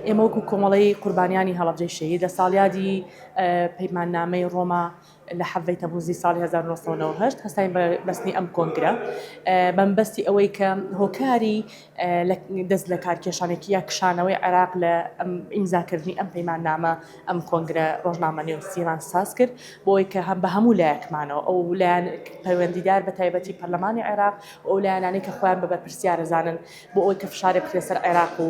ئێمە وەکو کۆمەڵەی قوربانیانی هەڵەبجەی شەهید لە ساڵیادی پەیماننامەی ڕۆما لە حەڤەی تەموزی ساڵی 1990 هەستاین بە بەستنی ئەم کۆنگرە بەمبەستی ئەوەی کە هۆکاری دەست لە کارکێشانێکی یا کشانەوەی عێراق لە ئیمزاکردنی ئەم پەیماننامە ئەم کۆنگرە ڕۆژنامە نێوسیمان ساز کرد بۆی کە هەم بە هەموو لایەکمانەوە ئەو لایەن پەیوەندیدار بە تایبەتی پەرلەمانی عێراق و ئەو لایەنانەی کە خۆیان بە بەرپرسیار ئەزانن بۆ ئەوەی کە فشارێ بخرێ سەر عێراق و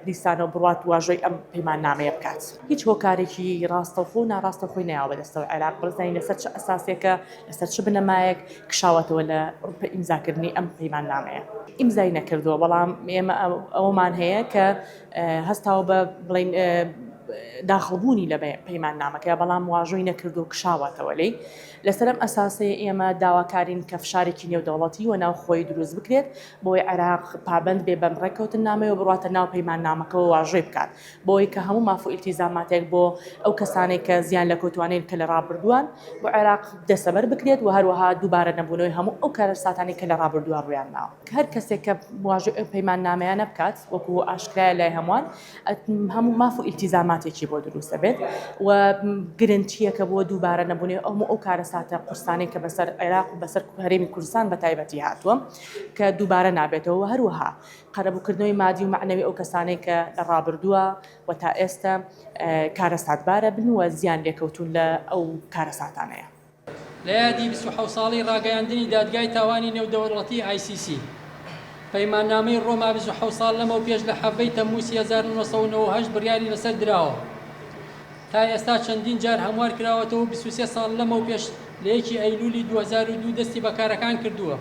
دیسانەوە بڕوات واژۆی ئەم پەیماننامەیە بکات هیچ هۆکارێکی ڕاستەوخۆ و ناڕاستە خۆی ناوە بەدەستەوە عێراق بڕزنی لەسەر چ ئەساسێکە لەسەر چ بنەمایەک کشاوەتەوە لە ڕوپە ئیمزاکردنی ئەم پەیماننامەیە ئیمزای نەکردووە بەڵام ئێمە ئەومان هەیە کە هەستاوە بە بڵین داخڵبوونی لە پەیماننامەکە بەڵام واژۆی نەکردو کشاوەتەوە لی لەسەر ئەم ئەساسەی ئێمە داواکارین کە فشارێکی نێودەوڵەتی و ناوخۆیی دروست بکرێت بۆی عێراق پابەند بێ بەم ڕێککەوتننامەیەوە بڕاتە ناو پەیماننامەکەەوە واژۆی بکات بۆی کە هەموو مافو ئیلتیزاماتێک بۆ ئەو کەسانێک کە زیان لە کەوتوانین کە لە ڕابردووان بۆ عێراق دەسەبەر بکرێت و هەروەها دووبارە نەبوونەوەی هەموو ئەو کارەساتانی کە لە ڕابردووە ڕوویان داوە کە هەر کەسێک کە واژۆی ئەو پەیماننامەیانە بکات وەکو ئاشکرایە لای هەمووان هەموو ماف و ئیلتیزاماتێکی بۆ دروست دەبێت و گرنتییەکە بۆ دووبارە نەبوونێ ئەو ئەو کارەساتە قورسانەی کە بەسەر عێراق و بەسەر هەرێمی کوردستان بە تایبەتی هاتووە کە دووبارە نابێتەوە هەروەها قەرەبووکردنەوەی مادی و معنەوی ئەو کەسانەی کە لە ڕابردووە و تا ئێستا کارەساتبارە بن و زیان لێکەوتوون لە ئەو کارەساتانەیە. لە یادی بیست و حەوت ساڵەی ڕاگەیاندنی دادگای تاوانی نێودەوڵەتی، ICC، پەیماننامەی ڕۆما بیست و حەوت ساڵ لەمەوپێش لە حەڤدەی تەمموسی هەزار و نۆ سەد و نەوەد و هەشت بڕیاری لەسەر دراوە تا ئێستا چەندین جار هەموار کراوەتەوە و بیست و سێ ساڵ لەمەوپێش لە یەکی ئەیلولی دوو هەزار و دوو دەستی بە کارەکان کردووە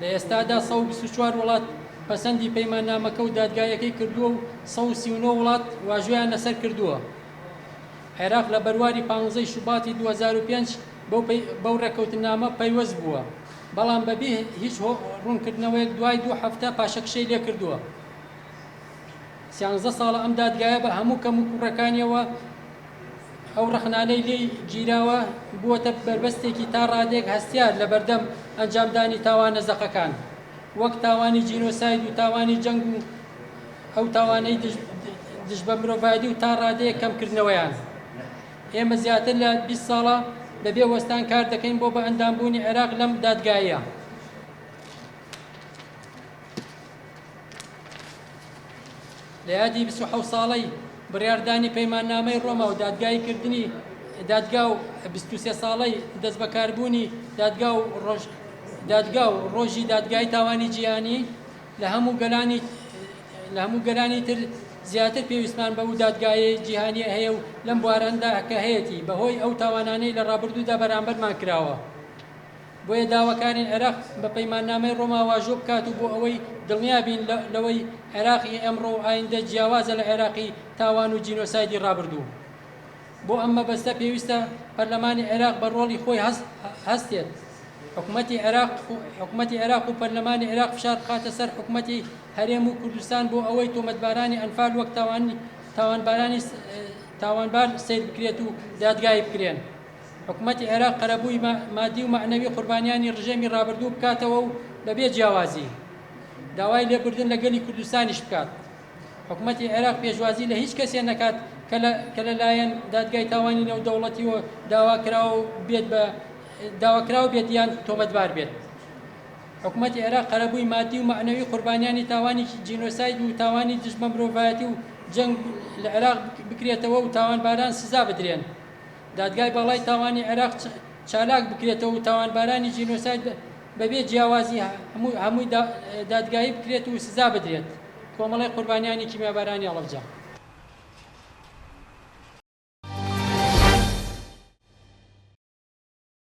لە ئێستادا سەد و بیست و چوار وڵات پەسەندی پەیماننامەکە و دادگاییەکەی کردووە و سەد و سی و نۆ وڵات واژۆیان لەسەر کردووە. عێراق لە بەرواری پانزە ی شوباتی دوو هەزار و پێنج بەو رێککەوتننامە پەیوەست بووە، بەڵام بەبی هیچ روونکردنەوەیەک دوای دوو هەفتە پاشەکشەی لێکردووە. سیانزە ساڵە ئەم دادگایە بە هەموو کەموکوڕەکانییەوە ئەو رەخنانەی لێی گیراوە، بووەتە بەربەستێکی تا رادەیەک هەستیار لەبەردەم ئەنجامدانی تاوانە زەقەکان، وەک تاوانی جینۆساید و تاوانی جەنگ و. ئەو تاوانەی دژ بە مرۆڤایەتی و تا ڕادەیەک کەمکردنەوەیان. ئێمە زیاتر لە بیست ساڵە بەبێ وەستان کار دەکەین بۆ بەئەندامبوونی عێراق لەم دادگایە. لە یادی بیست و حەوت ساڵەی بڕیاردانی پەیماننامەی ڕۆما و دادگایی کردنی دادگا و بیست و سێ ساڵەی دەستبەکاربوونی دادگا و ڕۆژ دادگا و ڕۆژی دادگای تاوانی جیهانی لە هەموو گەلانی تر زیاتر پێویستمان بەو دادگایەی جیهانیە هەیە و لەم بوارەندا کە هەیەتی بەهۆی ئەو تاوانانەی لە ڕابردوودا بەرامبەرمان کراوە بۆیە داواکارین عێراق بە پەیماننامەی ڕۆما واژۆ بکات و بۆ ئەوەی دڵنیابین لەوەی عێراقی ئەمڕۆ و ئایندە جیاوازە لە عێراقی تاوان و جینۆسایدی ڕابردوو. بۆ ئەم مەبەستە پێویستە پەرلەمانی عێراق بە ڕۆڵی خۆی هەستێت، حکومەتی عێراق و پەرلەمانی عێراق فشار بخاتە سەر حکومەتی هەرێم و کوردستان بۆ ئەوەی تۆمەتبارانی ئەنفال وەک تاوانبار سەیر بکرێت و دادگایی بکرێن. حکومەتی عێراق قەرەبووی مادی و مەعنەوی قوربانیانی ڕژێمی ڕابردوو بکاتەوە و بەبێ جیاوازی داوای لێبوردن لە گەلی کوردستانیش بکات. حکومەتی عێراق پێشوازی لە هیچ کەسێ نەکات کە لە لایەن دادگای تاوانی نێودەوڵەتییەوە داواکراو بێت بە داواکراو بێت یان تۆمەتبار بێت. حکومەتی عێراق قەرەبووی مادی و مەعنەوی قوربانیانی تاوانی جینۆساید و تاوانی دژ بە مرۆڤایەتی و جەنگ لە عێراق بکرێتەوە و تاوانباران سزا بدرێن. دادگای باڵای تاوانی عێراق چالاک بکرێتەوە و تاوانبارانی جینۆساید بەبێ جیاوازی هەمووی دادگایی بکرێت و سزا بدرێت. کۆمەڵەی قوربانیانی کیمیابارانی هەڵەبجە.